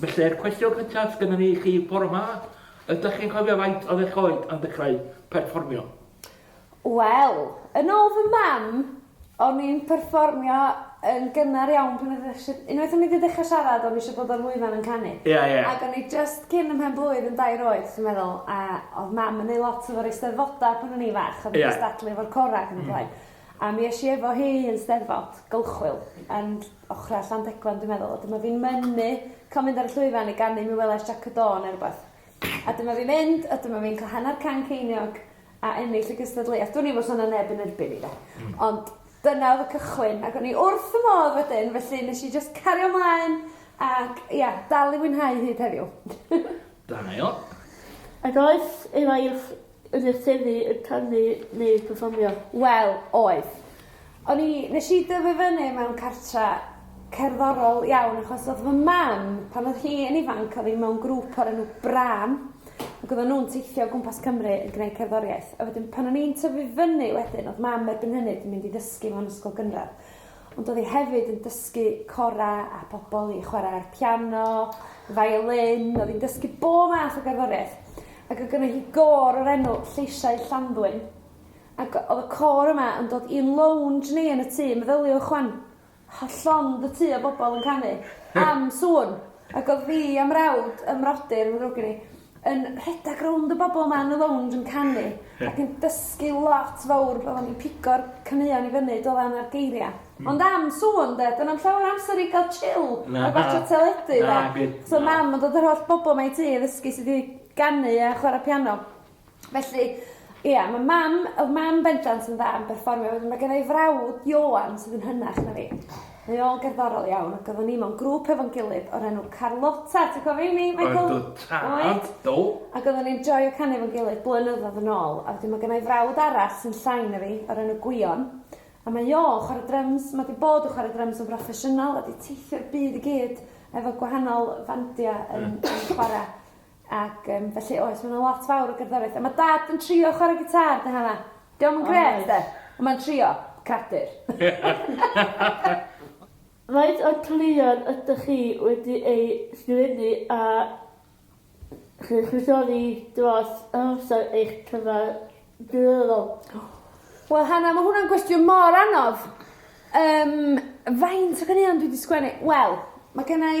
Felly, y cwestiwn cyntaf sydd gennym ni i chi bore 'ma, ydych chi'n cofio faint oedd eich oed pan ddechrau perfformio? Wel, yn ôl fy mam, o'n i'n perfformio yn gynnar iawn pan oedd eisiau... unwaith o'n i 'di dechrau siarad, o'n i eisiau bod ar lwyfan yn canu. Ie, ie. Ac o'n i jyst cyn ym mhen-blwydd yn dair oed, dwi'n meddwl, a oedd mam yn neud lot efo'r Eisteddfodau pan o'n i'n fach, oedd yn cystadlu efo'r corau ac yn y blaen. A mi es i efo hi yn 'Steddfod, Gylchwyl, and ochra Llandegfan dwi'n meddwl a dyma fi'n mynnu ca'l mynd ar y llwyfan i ganu Mi welais Jac y Do ne' rwbath. A dyma fi'n mynd a dyma fi'n ca'l hanner can ceiniog a ennill y gystadleuaeth. Dwn i 'im os o' 'na neb yn erbyn i 'de? Hmm. Ond dyna o'dd y cychwyn ac o'n i wrth fy modd wedyn felly nesh i jyst cario mlaen ac ia dal i fwynhau hyd heddiw. Da iawn. Ag oes efo i'r Yn y tŷ yn canu neu perfformio? Wel, oedd. O'n i... Nes i dyfu fyny mewn cartre cerddorol iawn achos oedd fy mam, pan oedd hi yn ifanc, oedd hi mewn grŵp o'r enw Brân ac oedden nhw'n teithio o gwmpas Cymru yn gwneud cerddoriaeth. A wedyn pan o'n i'n tyfu fyny wedyn oedd mam erbyn hynny 'di mynd i ddysgu mewn ysgol gynradd. Ond oedd hi hefyd yn dysgu cora a pobl i chwarae'r piano, violin, oedd hi'n dysgu bob math o gerddoriaeth. Ac oedd gynnu hi gôr o'r enw Lleisiau Llanddwyn. Ac oedd y côr yma yn dod i'n lounge ni yn y tŷ, meddyliwch wan, llond y tŷ o bobl yn canu am sŵn. Ac oedd fi a mrawd, ym mrodyr yn ddrwg gen i, yn rhedeg rownd y bobl 'ma yn y lownj yn canu ac yn dysgu lot fowr fel o'n ni'n pigo'r caneuon i fyny do ran a'r geiria ond am sŵn de do na'm llawer o amser i ga'l chill a gwatcha teledu de so mam yn dod yr holl bobl 'ma i tŷ i ddysgu sud i ganu a chwara piano felly ia ma' mam o'dd mam bendant yn dda am berfformio wedyn ma' gennai frawd Ioan sydd yn hynach na fi Rheol gerddorol iawn, ac oedden ni mewn grŵp efo'n gilydd o'r enw Carlotta, ti'n cofio rheiny Michael? Oedd y tad, Oedd. do. Ac oedden ni'n joio canu efo'n gilydd blynyddoedd yn ôl, a wedyn ma' gynna i frawd arall sy'n llai na fi, o'r enw Gwion, a mae o yn chwarae dryms, ma' 'di bod yn chwarae dryms yn broffesiynol a 'di teithio'r byd i gyd efo gwahanol fandia yn yn chwara. Ac yym felly oes ma' 'na lot fawr o gerddoriaeth a ma' dad yn trio chware gitâr 'da hanna. 'Di o'm yn grêt 'de? On' ma'n trio. Credir. Faint o cleifion ydych chi wedi eu sgrifennu a chynrychioli dros amser eich cyfadleddol? Wel Hannah ma' hwnna'n gwestiwn mor anodd. Yym faint o ganeuon dwi 'di sgwennu? Wel ma' gennai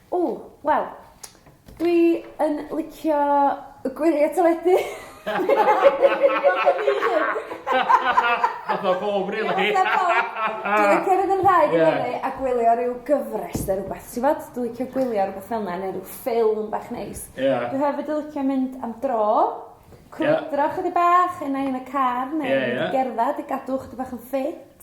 Ww, wel, dwi yn licio y gwyliau teledu. Fatha bob rili. Dwi'n licio fynd yn rhaid i fyny a gwylio rhyw gyfres neu rhywbeth. Ti'n gwybod, dwi'n licio gwylio rhywbeth fel yna neu rhyw ffilm bach neis. Dwi hefyd yn licio mynd am dro, crwydro 'chydig bach, un ai yn y car neu gerdded i gadw 'chydig bach yn ffit.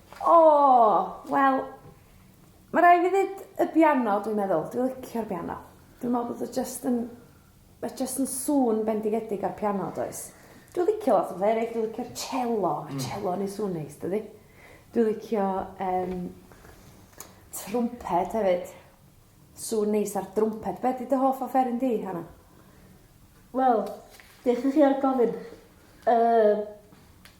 O! Wel, ma' rai' fi dd'eud y biano dwi'n meddwl dwi licio'r biano. Dwi me'wl bod o jyst yn ma' jyst yn sŵn bendigedig ar piano does? Dwi licio lot o bethe eryll dwi licio'r celo ma' celo yn neu' sŵn neis dydi? Dwi licio yym trwmped hefyd. Sŵn neis ar drwmped. Be' 'di dy hoff offeryn di Hannah? Wel, beth 'yf fi am gofyn? Yy.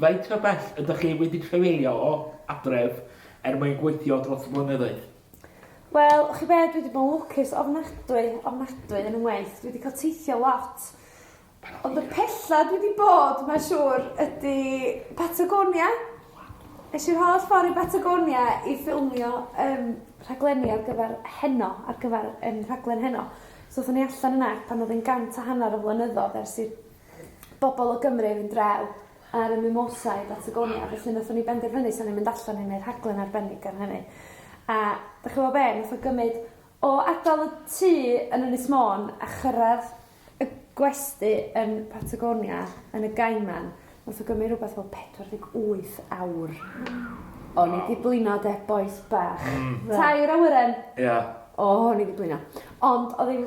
Faint o bell ydych chi wedi trafeilio o adref er mwyn gweithio dros y blynyddoedd? Wel, chi be, dwi 'di bod yn lwcus ofnadwy, ofnadwy yn 'y ngwaith. Dwi 'di cael teithio lot. Ond y pella dwi 'di bod, mae'n siŵr, ydi Patagonia. Es i'r holl ffordd i Batagonia i ffilmio yym rhaglenni ar gyfer Heno, ar gyfer yym rhaglen Heno. So aethon ni allan yna pan oedd e'n gant a hanner o flynyddoedd ers i'r bobol o Gymru i fynd draw ar y Mimosa i Batagonia felly nathon ni benderfynu sa ni'n mynd allan i neu' rhaglen arbennig ar hynny. A 'dych ch'mo' be' nath o gymyd o adal y tŷ yn Ynys Môn a chyrradd y gwesty yn Patagonia yn y Gaiman nath o gymyd rwbeth fel pedwar deg wyth awr. Waw. O'n i 'di blino 'de bois bach. Hmm. Tair awyren. Ia. O o'n i 'di blino. Ond odd 'i'n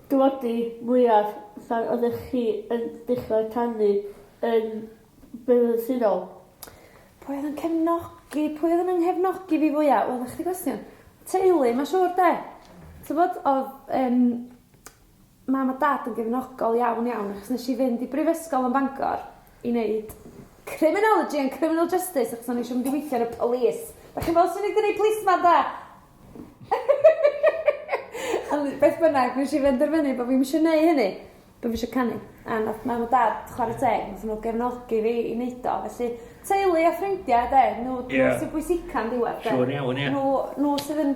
Dywodi, mwyaf, pan oeddech chi yn dechrau canu yn brydyddol? Pwy oedd yn cefnogi pwy oedd yn 'y nghefnogi fi fwya? Wel 'na chdi gwestiwn. Teulu ma' siŵr 'de? T'bod odd yym mam a dad yn gefnogol iawn iawn achos nesh i fynd i brifysgol yn Bangor i neud criminology and criminal justice achos o'n i isio mynd i weithio yn y police. 'Dach chi'n gweld swn i 'di neud policeman 'da? Ond beth bynnag, nes i benderfynu bod fi'm isio neud hynny. Bo' fi isio canu. A nath mam a dad chware teg nathon n'w gefnogi fi i neud o felly teulu a ffrindia 'de n'w dwi me'wl sy bwysica yn diwadd 'de? Siŵr iawn ia. Nhw n'w sydd yn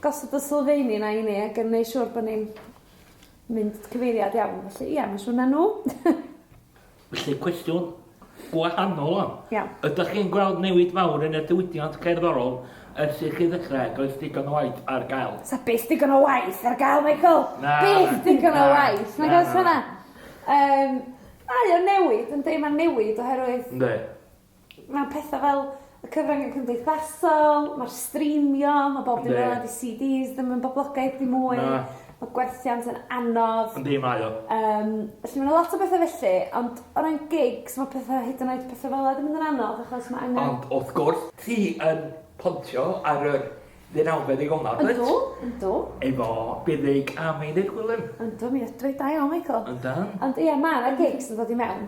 gosod y sylfeini 'na i ni ag yn neu' siŵr bo' ni'n mynd cyfeiriad iawn felly ia ma' siŵr ma' n'w. Felly cwestiwn gwahanol wan. Iawn. Ydych chi'n gweld newid fawr yn y diwydiant cerddorol ers i chi ddechrau, does digon o waith ar gael? Sa byth digon o waith ar gael, Michael! Na. Byth digon o waith, nag oes hynna? Yym, mae o'n newid, yndi, mae'n newid oherwydd... Yndi. Mae pethau fel y cyfryngau cymdeithasol, mae'r streamio, mae bob dim fel 'na 'di CDs ddim yn boblogaidd ddim mwy. Na. Ma' gwerthiant yn anodd. Yndi mae o. Yym felly ma' 'na lot o bethe felly ond o ran gigs ma' petha hyd yn oed petha fel 'a 'di mynd yn anodd achos ma' angen... Ond wrth gwrs ti yn pontio ar yr ddeunawfed ddigon 'ma dwyt? Yndw yndw. Efo Buddug a Meinir Gwilym. Yndw mi ydw i. Da iawn Michael. Yndan. Ond ia ma' 'na gigs yn dod i mewn.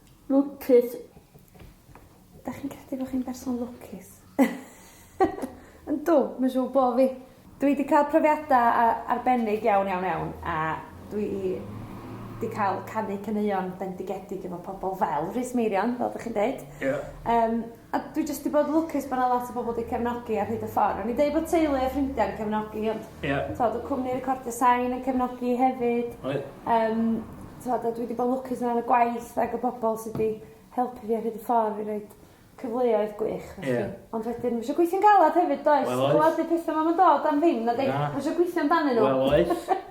Lwcus. Dach chi'n credu bo' chi'n berson lwcus? Yndw, ma' siŵr bo' fi. Dwi 'di ca'l profiada a- arbennig iawn iawn iawn a dwi 'di ca'l canu caneuon bendigedig efo pobol fel Rhys Meirion fel 'dych chi'n deud. Ie. Yym A dwi jyst 'di bod lwcus bo' 'na lot o bobol 'di cefnogi ar hyd y ffor. O'n i'n deud bod teulu a ffrindia yn cefnogi ond... Ie. ...t'od odd cwmni recordio sain yn cefnogi hefyd. Oedd. Yym t'mod a dwi 'di bod lwcus o ran y gwaith ag y bobol sy 'di helpu fi ar hyd y ffordd i roid cyfleoedd gwych felly. Ie. Ond wedyn ma' isio gweithio'n galad hefyd does? Wel oes. Gwel y petha 'ma 'im yn dod am ddim nadi? Na. Ma' isio gwithio amdanyn n'w. Wel oes.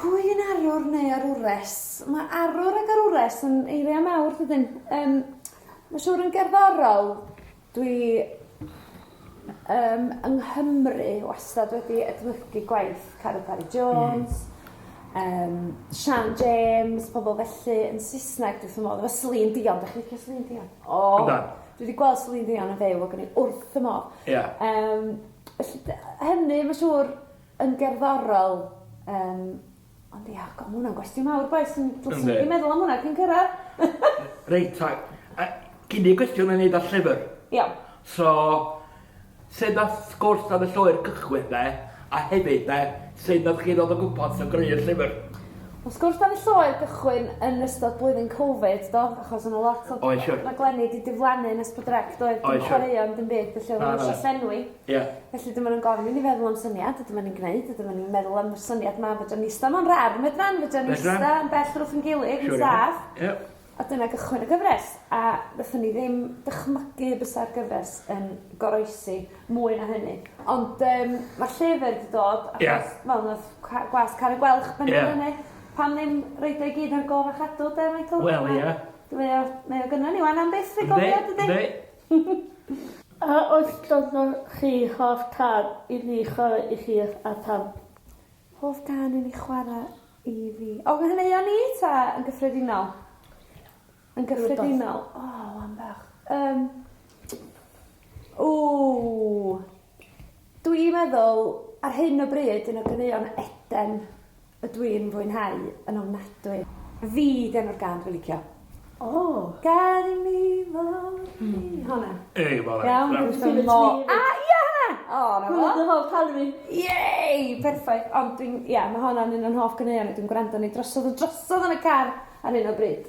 Pwy yn arwr neu arwres? Mae arwr ac arwres yn eiriau mawr dydyn? Yym ma' siŵr yn gerddorol dwi yym yng Nghymru wastad wedi edmygu gwaith Caro Parry Jones yym Siân James pobol felly yn Saesneg dwi wrth fy modd efo Celine Dion 'dach chi'n licio Celine Dion? O! Yndan. Dwi 'di gweld Celine Dion yn fyw ac o'n i wrth fy modd. Ia. Yym felly dy- yy hynny ma' siŵr yn gerddorol yym ond ia god ma' hwnna'n gwestiwn mawr does? Yn dw't ti wedi meddwl am hwnna cyn cyrradd? Reit ta. Yy gin i gwestiwn ynglŷn â llyfr. Iawn. So sut nath sgwrs am y llwyr cychwyn de a hefyd de sut nath chi ddod o gwmpas a greu'r llyfr? Wel sgwrs am y llwyr gychwyn yn ystod blwyddyn Covid do achos o' 'na lot o... Oes siŵr. ...raglenni 'di diflannu yn Ysbydd Rec doedd? Oes siŵr. Dim chwaraeon dim byd felly o'dd o eisio llenwi. Ie. Felly dyma nw'n gofyn i ni feddwl am syniad a dyma ni'n gneud a dyma ni'n meddwl am y syniad 'ma fedran ni ista mewn ran fedran fedran ni ista... Fedran. ...yn bell rwth 'yn gilydd yn saff. Siŵr iawn. Ie. A dyna gychwyn y gyfres a nethon ni ddim dychmygu bysa'r gyfres yn goroesi mwy na hynny ond yym ma' llyfyr 'di dod achos... Ie. ...wel nath ca- gwas Carreg Welch bennu... Ie. ...fyny pam ddim roid o i gyd ar gof a chadw 'de Michael? Wel ie. Mae o mae o gynno ni 'wan am byth rhagofn dydi? Yndi yndi. A oes ganddo chi hoff cân i ni chwarae i chi a pham? Hoff gân i ni chwara i fi? O fy nghaneuon ni ta yn gyffredinol? Yn gyffredinol. Rwbath. O wan bach. Yym. Ww. Dwi'n meddwl, ar hyn o bryd, un o ganeuon Eden y dw i'n fwynhau yn ofnadwy. Fi 'di enw'r gân dw i'n licio. O! Gad i mi fod fi. Honna. Ei, ma' honna yn Iawn, dw i isio mo-... A ia honna! O 'na fo. Hwnna 'di hoff cân fi. Yay! Perffaith. Ond dwi'n, ia, ma' honna'n un o'n hoff ganeuon i, dwi'n gwrando arni drosodd a drosodd yn y car ar hyn o bryd.